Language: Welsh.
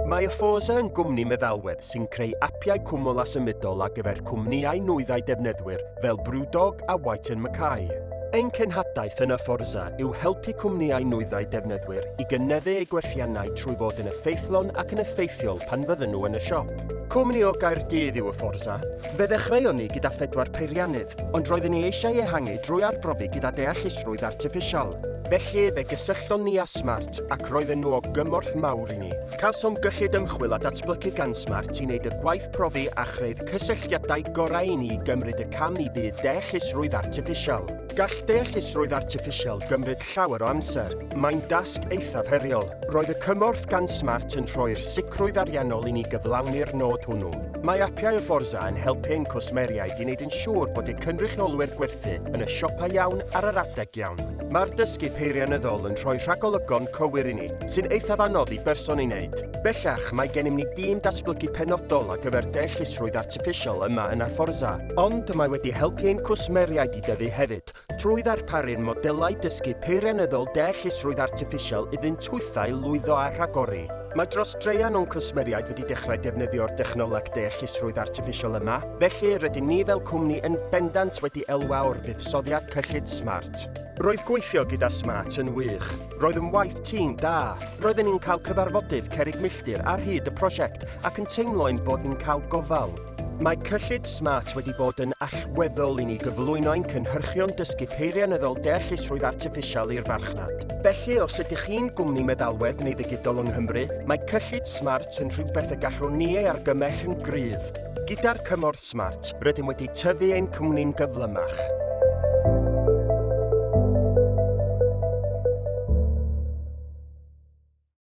Mae Afosa yn gwmni meddalwedd sy'n creu apiau cwmwl a symudol ar gyfer cwmnïau nwyddau defnyddwyr fel Brewdog a White Mackay. Ein cenhadaeth yn Aforza yw helpu cwmnïau nwyddau defnyddwyr i gynyddu eu gwerthiannau trwy fod yn effeithlon ac yn effeithiol pan fydden nhw yn y siop. Cwmni o Gaerdydd yw Aforza. Fe ddechreuon ni gyda phedwar peiriannydd, ond roedden ni eisiau ehangu drwy arbrofi gyda deallusrwydd artiffisial. Felly, fe gysyllton ni â Smart, Smart ac roedden nhw o gymorth mawr i ni. Cawsom gyllid ymchwil a datblygu gan Smart i wneud y gwaith profi a chreu'r cysylltiadau gorau i ni i gymryd y cam i byd deallusrwydd artiffisial. Gall deallusrwydd artiffisial gymryd llawer o amser. Mae'n dasg eithaf heriol. Roedd y cymorth gan Smart yn rhoi'r sicrwydd ariannol i ni gyflawni'r nod hwnnw. Mae apiau o Forza yn helpu ein cwsmeriaid i wneud yn siŵr bod eu cynrychiolwyr gwerthu yn y siopau iawn ar yr adeg iawn. Mae'r dysgu peirianyddol yn rhoi rhagolygon cywir i ni, sy'n eithaf anodd i berson ei wneud. Bellach, mae gennym ni dîm datblygu penodol ar gyfer deallusrwydd artiffisial yma yn Aforza, ond mae wedi helpu ein cwsmeriaid i dyfu hefyd trwy ddarparu'r modelau dysgu peirianyddol deallusrwydd artiffisial iddynt hwythau lwyddo a rhagori. Mae dros draean o'n cwsmeriaid wedi dechrau defnyddio'r dechnoleg deallusrwydd artiffisial yma, felly rydyn ni fel cwmni yn bendant wedi elwa o'r buddsoddiad cyllid smart. Roedd gweithio gyda Smart yn wych. Roedd yn waith tîm da. Roedden ni'n cael cyfarfodydd cerrig milltir ar hyd y prosiect ac yn teimlo ein bod ni'n cael gofal. Mae cyllid Smart wedi bod yn allweddol i ni gyflwyno ein cynhyrchion dysgu peirianyddol deallusrwydd artiffisial i'r farchnad. Felly, os ydych chi'n gwmni meddalwedd neu ddigidol yng Nghymru, mae cyllid Smart yn rhywbeth y gallwn ni ei argymell yn gryf. Gyda'r cymorth Smart. Rydym wedi tyfu ein cwmni'n gyflymach.